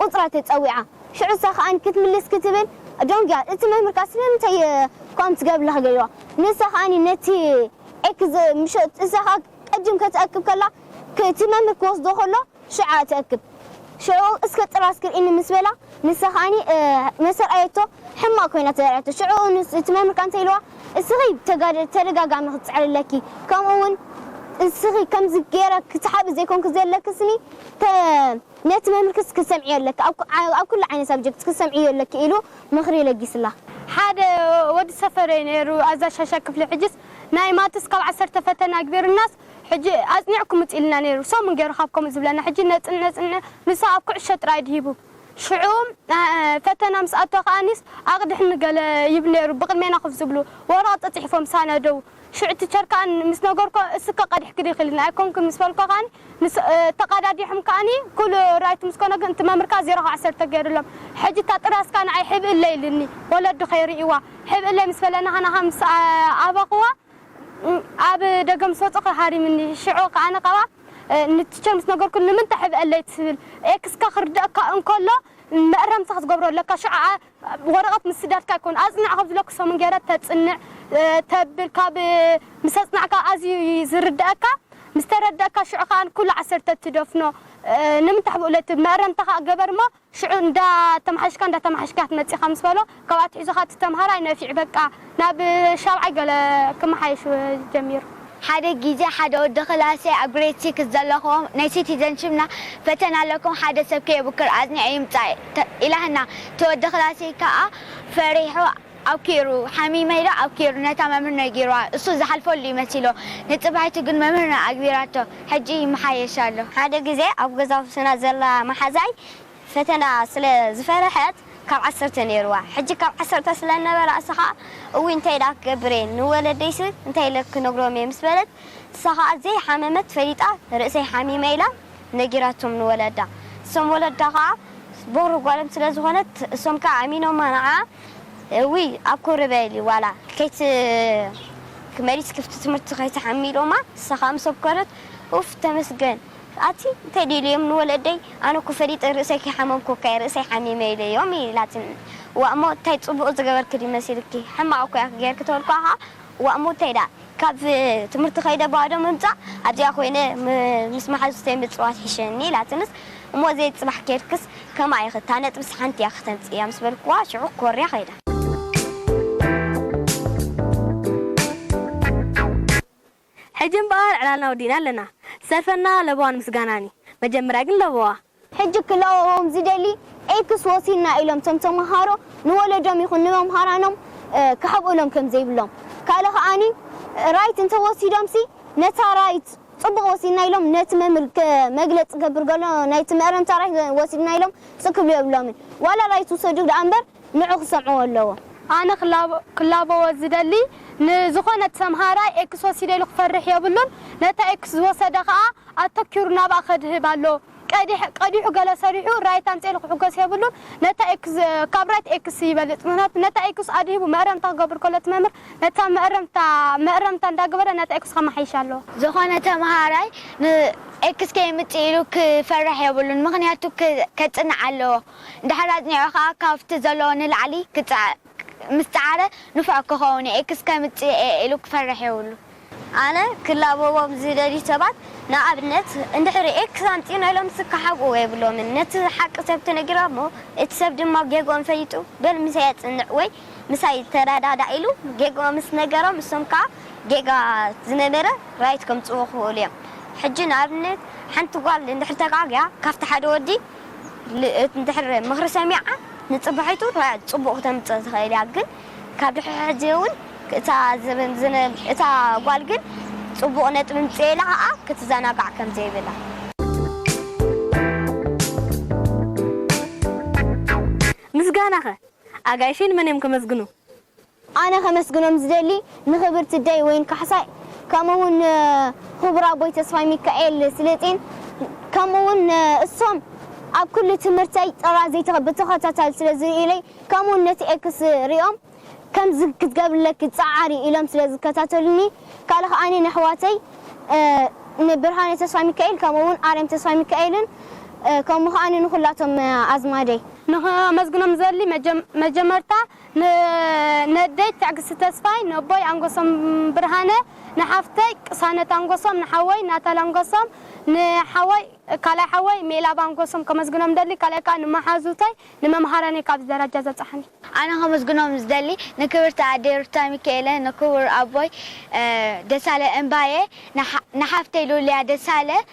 ቁጽራ ተጸዊዓ ሽዑ እሳ ከኣ ክትምልስ ክትብል ደንጉያ እቲ መምህር ከኣ ስለምንታይ ከምኡ ትገብር ኣለኻ ገሪዋ ንሳ ከኣ ነቲ ኤክስ ምሸ እሳ ከኣ ቅድም ከተእክብ ከላ እቲ መምህር ክወስዶ ከሎ ሽዓ ተእክብ ሽዑ እስከ ጥራዝ ክርኢኒ ምስ በላ ንሳ ከኣ መስ ኣርኣየቶ ሕማቅ ኮይና ተርኣየቶ ሽዑ እቲ መምህር ከኣ እንታይ ኢልዋ እስኺ ተደጋጋሚ ክትጽዕሪ ኣለኪ ከምኡ ውን እስኺ ከምዚ ጌረ ክትሓቢ ዘይኮንኪ ዘለኪ ስኒ ፐ ነቲ መምህር ክስ ክትሰምዕዮ ኣለኪ ኣብ ኣብ ኩሉ ዓይነት ሳብጀክት ክትሰምዕዮ ኣለኪ ኢሉ ምኽሪ ለጊስላ። ሓደ ወዲ ሰፈረይ ነይሩ ኣዛዥ ሻሻይ ክፍሊ ሕጅስ ናይ ማትስ ካብ ዓሰርተ ፈተነ ኣግቢሩናስ ሕጂ ኣጽኒዕኩም ምጹ ኢሉና ነይሩ ሰሙን ገይሩ ካብ ከምኡ ዝብለና ሕጂ ነጽን ነጽን ንሱ ኣብ ኩዕሾ ጥራይ ድሂቡ ሽዑ ፈተና ምስ ኣቶ ከኣኒስ ኣቕድሕኒ ገለ ይብል ነይሩ ብቕድሜና ኮፍ ዝብሉ ወረቕት ጸጺሒፎም ሳነደው ሽዑ ቲቸር ከኣኒ ምስ ነገርኩ እስከ ቀዲሕኪ ዲኺ ኢሉኒ ኣይኮንኩን ምስ በልኩ ከኣኒ ምስ ተቃዳዲሖም ከኣኒ ኩሉ ራይት ምስ ኮነ ግን እቲ መምህር ከኣ ዜሮ ካብ ዓሰርተ ጌሩሎም ሕጂ እታ ጥራዝ ከኣ ንዓይ ሕብእለይ ኢሉኒ ወለዲ ከይርእይዋ ሕብእለይ ምስ በለ ናሃናሃ ምስ ኣበኽዋ ኣብ ደገ ምስ ወጸኹ ሃሪሙኒ ሽዑ ከኣኒ ካብኣ ንቲቸር ምስ ነገርኩ ንምንታይ ሕብእለይ ትብል ኤክስካ ክርደኣካ እንከሎ መእረምታ ክትገብሮ ኣለካ ሽዑ ወረቐት ምስዳድካ ኣይኮን ኣጽንዕ ካብ ዝብለኩ ሰሙን ገይረ ተጽንዕ ተብል ካብ ምስ ኣጽናዕካ ኣዝዩ እዩ ዝርደኣካ ምስ ተረደኣካ ሽዑ ከኣ ንኩሉ ዓሰርተ ትደፍኖ ንምንታይ ሕቡእ ለቲ መእረምታ ከኣ ገበር እሞ ሽዑ እንዳ ተማሓየሽካ እንዳ ተማሓየሽካ ክትመጽእ ኢኻ ምስ በሎ ካብ ኣትሒዙ ከኣ እቲ ተማሃራይ ነፊዑ በቃ ናብ ሻብዓይ ገለ ክመሓየሽ ጀሚሩ። ሓደ ግዜ ሓደ ወዲ ክላሰይ ኣብ ግሬድ ሲክስ ዘለኹዎም ናይ ሲቲዘንሺፕና ፈተና ኣለኩም ሓደ ሰብ ከየብክር ኣጽኒዑ ይምጻእ ኢላህና እቲ ወዲ ክላሰይ ከኣ ፈሪሑ ኣብኪሩ ሓሚመ ኢሉ ኣብኪሩ ነታ መምህር ነጊሩዋ እሱ ዝሓልፈሉ እዩ መሲልዎ ንጽባሒቱ ግን መምህርና ኣግቢራቶ ሕጂ ይመሓየሽ ኣሎ። ሓደ ግዜ ኣብ ገዛውትና ዘላ መሓዛይ ፈተና ስለ ዝፈረሐት ካብ ዓሰርተ ነይርዋ ሕጂ ካብ ዓሰርተ ስለ ነበራ እሳ ከኣ እውይ እንታይ ደኣ ክገብር እየ ንወለደይሲ እንታይ እለ ክነግሮም እየ ምስ በለት እሳ ከኣ ዘይ ሓመመት ፈሊጣ ርእሰይ ሓሚመ ኢላ ነጊራቶም ንወለዳ እሶም ወለዳ ከኣ ቦኽሪ ጓሎም ስለ ዝኾነት እሶም ከኣ ኣሚኖማ ንዓኣ እውይ ኣብ ኮሪ በሊ ዋላ ከይትመሊስ ክፍቲ ትምህርቲ ከይትሓሚ ኢሎማ እሳ ከኣ ምስ ኣኮረት ኡፍ ተመስገን ኣቲ እንታይ ደዩ ኢለዮም ንወለደይ ኣነ እኮ ፈሊጠ ርእሰይ ከይሓመምኩ እካየ ርእሰይ ሓሚመ ኢለዮም ኢላትኒ ዋእ እሞ እንታይ ጽቡቅ ዝገበርኪ ድዩ መሲልኪ ሕማቅ እኮ ኢኪ ገርኪ ተበልኩዋ ከኣ ዋእ እሞ እንታይ ደኣ ካብ ትምህርቲ ከይደ ባዶ ምምጻእ ኣብዚኣ ኮይነ ምስ መሓዙተይ ምጽዋት ሒሸኒ ኢላትንስ እሞ ዘይ ጽባሕ ከይድክስ ከምኣ ኢኪ እታ ነጥብስ ሓንቲ ኢያ ከተምጽእያ ምስ በልኩዋ ሽዑ ኮርያ ከይዳ። ሕጂ እምበኣር ዕላልና ወዲእና ኣለና ሰልፈና ለበዋን ምስጋናን እዩ መጀመርያ ግን ለበዋ። ሕጂ ክለወዎም ዝደሊ ኤክስ ወሲድና ኢሎም እቶም ተመሃሮ ንወለዶም ይኹን ንመምሃራኖም ክሕብእሎም ከም ዘይብሎም ካልእ ከኣኒ ራይት እንተ ወሲዶምሲ ነታ ራይት ጽቡቕ ወሲድና ኢሎም ነቲ መምህር መግለጺ ክገብር ከሎ ናይቲ መእረምታ ራይት ወሲድና ኢሎም ጽእ ክብሉ የብሎምን ዋላ ራይት ውሰዱ ደኣ እምበር ንዑ ክሰምዕዎ ኣለዎም። ኣነ ክላበዎ ዝደሊ ንዝኾነት ሰምሃራይ ኤክስ ወሲደ ኢሉ ክፈርሕ የብሉን ነታ ኤክስ ዝወሰደ ከኣ ኣተኪሩ ናብኣ ከድህብ ኣለዎ ቀዲሕ ቀዲሑ ገለ ሰሪሑ ራይት ኣምጺኤ ኢሉ ክሕጎስ የብሉን ነታ ኤክስ ካብ ራይት ኤክስ ይበልጽ ምኽንያቱ ነታ ኤክስ ኣድሂቡ መእረምታ ክገብር ከሎ እቲ መምህር ነታ መእረምታ መእረምታ እንዳገበረ ነታ ኤክስ ከማሓይሻ ኣለዎ። ዝኾነ ተምሃራይ ን ኤክስ ከየምጽእ ኢሉ ክፈርሕ የብሉን ምኽንያቱ ከጽንዕ ኣለዎ። ድሕሪ ኣጽኒዑ ከኣ ካብቲ ዘለዎ ንላዕሊ ክጽዕቕ ምስ ጸዓረ ንፉዕ ክኸውን'የ፣ ኤክስ ከምጽእ'የ ኢሉ ክፈርሕ የብሉን። ኣነ ክላበዎም ዝደልዩ ሰባት ንኣብነት እንድሕሪ ኤክስ ኣምጺእና ኢሎም ስክ ክሓብእዎ የብሎምን። ነቲ ሓቂ ሰብ ተነጊሮሞ እቲ ሰብ ድማ ጌግኦም ፈሊጡ በል ምሳይ ኣጽንዕ ወይ ምሳይ ተረዳዳእ ኢሉ ጌግኦም ምስ ነገሮም እሶም ከኣ ጌጋ ዝነበረ ራይት ከምጽእዎ ክኽእሉ እዮም። ሕጂ ንኣብነት ሓንቲ ጓል እንድሕሪ ተጋግያ ካብቲ ሓደ ወዲ እንድሕር ምኽሪ ሰሚዓ ንጽባሒቱ ጽቡቕ ክተምጽእ ትኽእል እያ ግን ካብ ድሕሪ ሕጂ ውን እታ ዝብል ዝንል እታ ጓል ግን ጽቡቕ ነጥቢ ምጽኤላ ከኣ ክትዘናጋዕ ከም ዘይብላ። ምስጋናኸ ኣጋይሸይ ንመን እዮም ከመስግኑ? ኣነ ከመስግኖም ዝደሊ ንክብርቲ ደይ ወይን ካሕሳይ ከምኡ ውን ንክቡር ኣቦይ ተስፋይ ሚካኤል ስልጢን ከምኡ ውን ንእሶም ኣብ ኩሉ ትምህርተይ ጥራዘይ ብተኸታታሊ ስለ ዝርእዩለይ ከምኡ ውን ነቲ ኤክስ ሪኦም ከምዚ ክትገብርለኪ ጸዓሪ ኢሎም ስለ ዝከታተሉኒ ካልእ ከኣ ንኣሕዋተይ ንብርሃነ ተስፋይ ሚካኤል ከምኡ ውን ኣርያም ተስፋይ ሚካኤልን ከምኡ ከኣ ንኩላቶም ኣዝማደይ ንከመስግኖም ዝደሊ መጀመርታ ንነዴት ትዕግስቲ ተስፋይ፣ ነቦይ ኣንጎሶም ብርሃነ፣ ንሓፍተይ ቅሳነት ኣንጎሶም፣ ንሓወይ ናታል ኣንጎሶም፣ ንሓወይ ካልኣይ ሓወይ ሜላብ ኣንጎሶም ከመስግኖም እደሊ፣ ካልኣይ ከኣ ንመሓዙተይ፣ ንመምሃራነይ ካብዚ ደረጃ ዘብጽሓኒ። ኣነ ከመስግኖም ዝደሊ ንክብርቲ ኣደይ ሩታ ሚኪኤለ፣ ንክቡር ኣቦይ ደሳለ እምባየ፣ ንሓፍተይ ሉልያ ደሳለ፣